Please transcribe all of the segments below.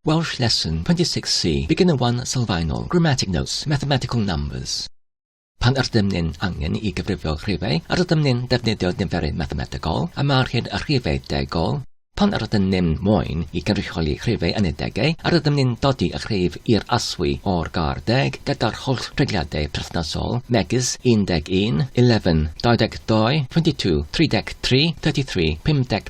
Welsh Lesson 26C Beginner 1 Sylfaenol Grammatic Notes Mathematical Numbers Pan ydym ni'n angen i gyfrifo rhifau, rydym ni'n defnyddio niferu mathemategol, a mae'r hyn a rhifau degol, Pan yr ydym ni'n moyn i gynrychioli rhifau yn y degau, yr ydym ni'n dodi y rhif i'r aswy o'r gar deg gyda'r holl regliadau perthnasol, megis 11, 11, 22, 22, 33, 33, 53,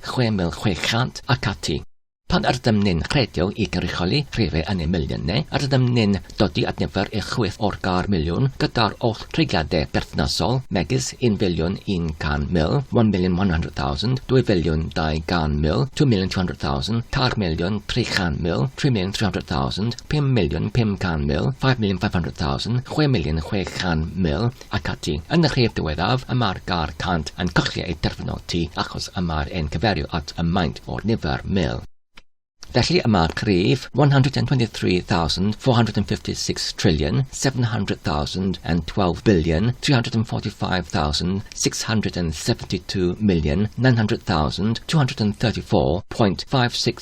6,600 ac ati. Pan ydym ni'n rhedeg i gynrychioli rhifau yn y miliynau, rydym ni'n dod i adnabod eich chwith o'r gair miliwn gyda'r oll treigliadau berthnasol, megis un filiwn 100 mil, one million one hundred thousand, dwy filiwn 200 mil, two million two hundred thousand, tair miliwn 300 mil, three million three hundred thousand, pum miliwn 500 mil, five million five hundred thousand, chwe miliwn 600 mil, ac ati. Yn y rhif diwethaf, y mae'r gair 'cant' yn colli ei derfynoti achos y mae'r e'n cyfeirio at y maint o'r nifer, mil. Felly y mae'r rhif 123,456,712,345,672,900,234.56